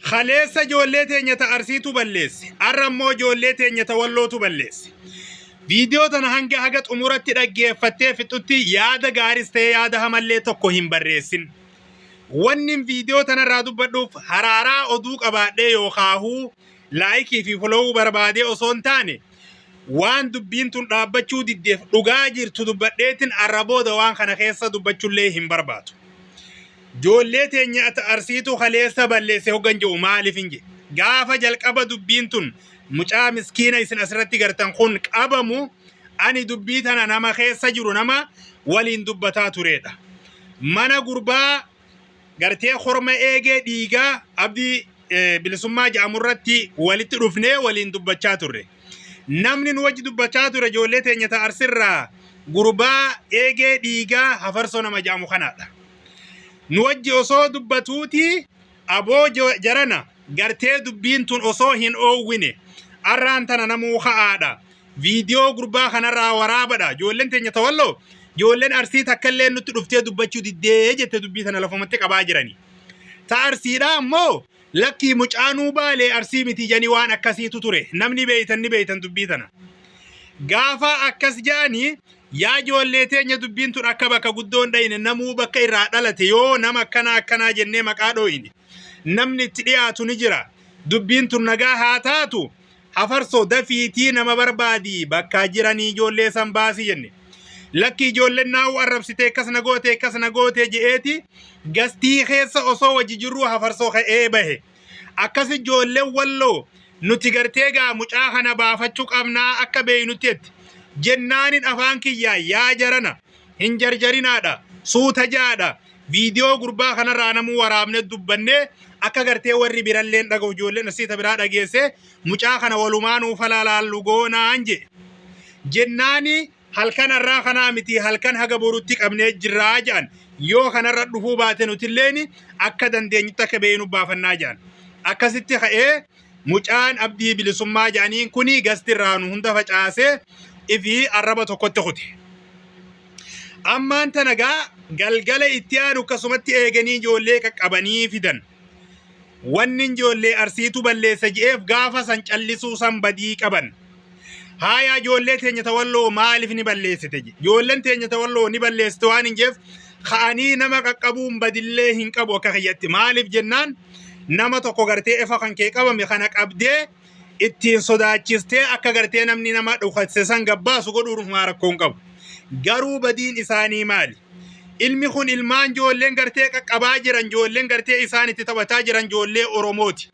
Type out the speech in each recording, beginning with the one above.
Kaleessa ijoollee teenya ta Arsiitu balleesse. Har'a immoo ijoollee teenya ta Wallootu balleesse. Viidiyoo tana hanga haga xumuratti dhaggeeffattee fixutti yaada gaaris ta'ee yaada hamallee tokko hin barreessin. Wanni viidiyoo tanarraa dubbadhuuf haraaraa oduu qabaadhee yookaahuu laayikii fi folowuu barbaadee osoo hin taane waan dubbiin tun dhaabbachuu diddeef dhugaa jirtu dubbadheetin arra booda waan kana keessa dubbachullee hin barbaadu. Joollee teenya ata arsiitu kaleessa balleesse hoggan je'u maalifin je. Gaafa jalqaba dubbiin tun mucaa miskiina isin asirratti gartan kun qabamu ani dubbii tana nama keessa jiru nama waliin dubbataa tureedha. Mana gurbaa gartee korma eegee dhiigaa abdii eh, bilisummaa jedhamu irratti walitti dhufnee waliin dubbachaa turre. Namni nu wajji dubbachaa ture ijoollee teenya ta'a arsirraa gurbaa eegee dhiigaa hafarsoo nama jedhamu kanaadha. Nu wajji osoo dubbatuuti aboo jo- jarana gartee dubbiin tun osoo hin oowwine arraan tana namuu ka'aadha. Viidiyoo gurbaa kanarraa waraabadha. Ijoolleen teenya tawalloo ijoolleen arsii takka illee nutti dhuftee dubbachuu diddee jette dubbii tana lafumatti qabaa jirani. Ta arsiidhaa ammoo lakkii mucaanuu baalee arsii miti janii waan akkasiitu ture. Namni beeytan ni beeytan dubbii tana. Gaafa akkas ja'anii yaa ijoollee teenya dubbiin tun akka bakka guddoon dhayine namuu bakka irraa dhalate yoo nama akkanaa akkanaa jennee maqaa dhooyne namni itti dhiyaatu ni jira. Dubbiin tun nagaa haa taatu Hafarso dafiitii nama barbaadi bakkaa jiranii ijoollee san baasi jenne. Lakki ijoolleen naa'u arrabsitee akkas na goote akkas na goote je'eeti gastii keessa osoo wajji jirruu hafarsoo ka'ee bahe. Akkas ijoolleen walloo nuti gartee gaa mucaa kana baafachuu qabnaa akka beeynutti jetti. Jennaanin afaan kiyyaa yaa jarana hin jarjarinaadha suuta jaadha Viidiyoo gurbaa kanarraa namuu waraabne dubbanne akka gartee warri biralleen dhaga'u ijoolleen asiita biraa dhageesse mucaa kana walumaa nuuf halaalaallu goonaan je. Jennaani halkan har'aa kanaa miti halkan haga borutti qabnee jirraa jedhan yoo kanarra dhufuu baate nutilleen akka dandeenyutti akka beeynu baafannaa jedhan. Akkasitti ka'ee Mucaan abdii bilisummaa jedhaniin kuni gasti irraa nu hunda facaasee ifi arraba tokkotti kute. Ammaan tana gaa galgala itti aanu akkasumatti eeganii ijoollee qaqqabanii fidan. Wanni ijoollee arsiitu balleessa je'eef gaafa san callisuu san badii qaban. Haayaa ijoollee teenya tawalloo maaliif ni balleessite? Ijoolleen teenya tawalloo ni balleessite waan hin jeef ka'anii nama qaqqabuun badillee hin qabu akka kiyyatti. Maaliif jennaan nama tokko gartee efa kan kee qabame kana qabdee ittiin sodaachistee akka gartee namni nama dhukasse san gabbaasu godhuun humaa rakkoon qabu. Garuu badiin isaanii maali? Ilmi kun ilmaan ijoolleen gartee qaqqabaa jiran ijoolleen gartee isaan itti taphataa jiran ijoollee Oromooti.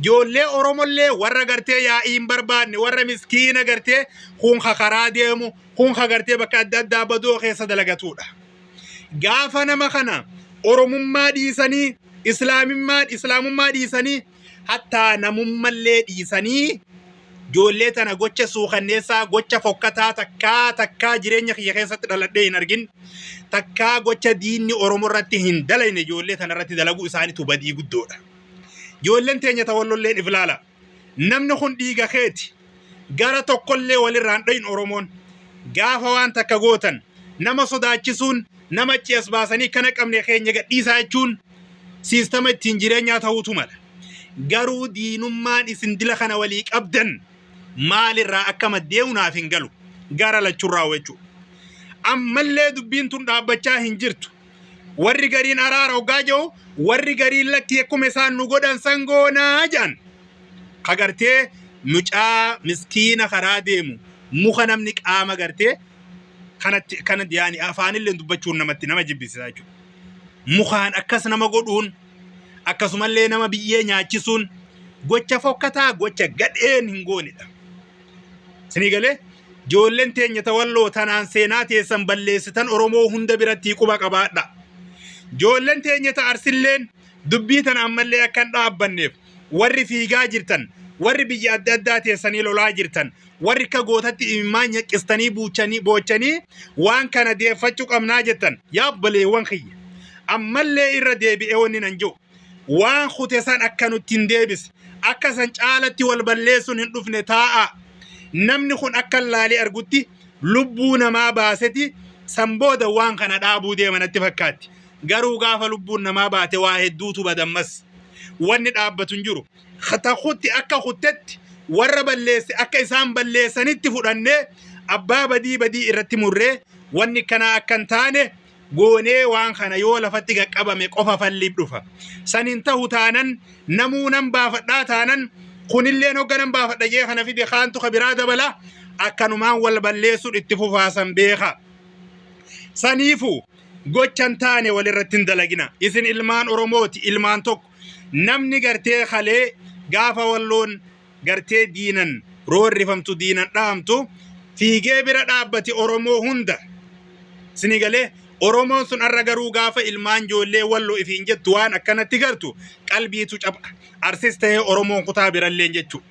Ijoollee Oromollee warra gartee yaa'ii hin barbaanne warra miskiina gartee kun ka karaa deemu kun ka gartee bakka adda addaa badoo keessa dalagatudha. Gaafa nama kana Oromummaa dhiisanii Islaamummaa Islaamummaa dhiisanii hattaa namummallee dhiisanii ijoollee tana gocha suukanneessaa gocha fokkataa takkaa takkaa jireenya kiyya keessatti dhaladhee hin argin takkaa gocha diinni Oromoo irratti hin dalayne ijoollee tana irratti dalaguu isaanitu badii guddoodha. Ijoolleen teenya ta wallolleen if laala. Namni kun dhiiga keeti. Gara tokkollee walirraan dhoyin Oromoon. Gaafa waan takka gootan nama sodaachisuun nama achi as baasanii kana qabne keenya gadhiisaa jechuun siistama ittiin jireenyaa ta'uutu mala. Garuu diinummaan isin dila kana walii qabdan maalirraa akka maddee'u naaf hin galu. Gara lachurraa jechuudha. Ammallee dubbiin tun dhaabbachaa hin jirtu. Warri gariin araara hoggaa jiru warri gariin lakki akkuma isaan nu godhan san goonaa jedhan. Ka gartee mucaa miskiina karaa deemu muka namni qaama gartee kanatti kana yaani afaanillee dubbachuun namatti nama jibbisiisa jechuudha. Mukaan akkas nama godhuun akkasumallee nama biyyee nyaachisuun gocha fokkataa gocha gadheen hin goonedha. Sinii galee joolleen teenya tawalloo tanaan seenaa teessan balleessitan Oromoo hunda biratti quba qabaadha. Joolleen teenya ta arsilleen dubbii tana ammallee akka hin dhaabbanneef warri fiigaa jirtan warri biyya adda addaa teessanii lolaa jirtan warri akka gootatti imimmaan nyaqqistanii buuchanii boochanii waan kana deeffachuu qabnaa jettan yaa obboleewwan kiyya ammallee irra deebi'ee wanni nan jiru waan kute san akka nutti hin deebise akka san caalatti wal balleessuun hin dhufne taa'a namni kun akka laalee argutti lubbuu namaa baaseti san booda waan kana dhaabuu deema natti fakkaatti garuu gaafa lubbuun namaa baate waa hedduutu badammas wanni dhaabbatu hin jiru ta kutti akka kuttetti warra balleesse akka isaan balleessanitti fudhannee abbaa badii badii irratti murree wanni kanaa akka hin taane goonee waan kana yoo lafatti qaqqabame qofa falliif dhufa. San hin tahu taanan namuu nan baafadhaa taanan kunillee hogga nan baafadha jee kana fide kaantu ka biraa dabala akkanumaan wal balleessuun itti fufaasan beeka. Saniifu gochan taane walirratti hin dalagina. Isin ilmaan Oromooti ilmaan tokko namni gartee kalee gaafa walloon gartee diinan roorrifamtu diinan dhaamtu fiigee bira dhaabbati Oromoo hunda sini galee Oromoon sun arra garuu gaafa ilmaan ijoollee wallo ifiin jettu waan akkanatti gartu qalbiitu capha arsis ta'ee Oromoon kutaa biralleen jechuu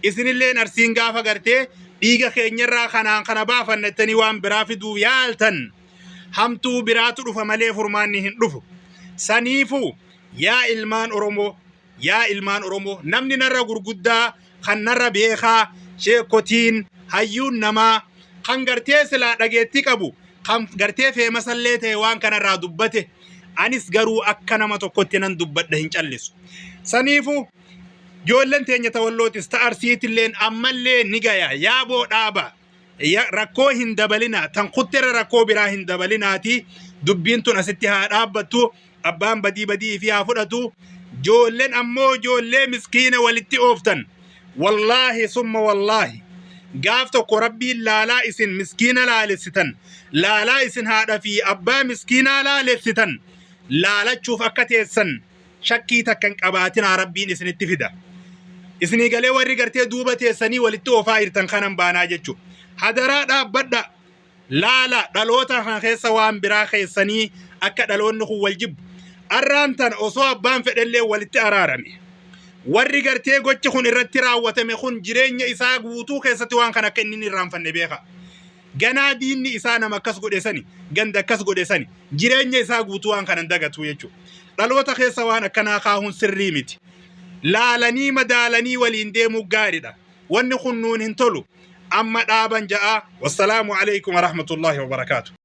isinilleen arsiin gaafa gartee dhiiga keenyarraa kanaan kana baafannattanii waan biraa fiduuf yaaltan hamtuu biraatu dhufa malee furmaanni hin dhufu saniifu yaa ilmaan Oromoo Yaa ilmaan Oromoo namni narra gurguddaa kan narra beekaa sheekotiin hayyuun namaa kan gartee silaa dhageettii qabu kan gartee feemasallee ta'e waan kanarraa dubbate anis garuu akka nama tokkotti nan dubbadha hin callisu. Saniifu joolleen teenya tawallootis ta arsiitilleen ammallee ni gaya yaaboo dhaabaa. Ya- rakkoo hin dabalinaa tan kutterra rakkoo biraa hin dabalinaati dubbiin tun asitti haa dhaabbattu abbaan badii badii ifii haa fudhatu joolleen ammoo joollee miskiina walitti ooftan wallaahi summa wallaahi gaaf tokko rabbiin laalaa isin miskiina laalessitan laalaa isin haadha fi abbaa miskiinaa laalessitan laalachuuf akka teessan shakkii takka hin qabaatinaa rabbiin isinitti fida isinii galee warri gartee duuba teessanii walitti oofaa jirtan kanan baanaa jechuudha hadaraa dhaabbadha laala dhaloota kan keessa waan biraa keessanii akka dhaloonni kun wal jibbu arraan tan osoo abbaan fedhellee walitti araarame warri gartee gochi kun irratti raawwatame kun jireenya isaa guutuu keessatti waan kan akka inni hin irraanfanne beeka Ganaa diinni isaa nama akkas godhe sani, ganda akkas godhe sani, jireenya isaa guutuu waan kana hin dagatu jechuudha. Dhaloota keessa waan akkanaa kaahuun sirrii miti. Laalanii madaalanii waliin deemuu gaariidha. Wanni kun nuun hin tolu. Amma dhaaban ja'aa. Wassalaamu alaikum warahmatullahi wabarakaatu.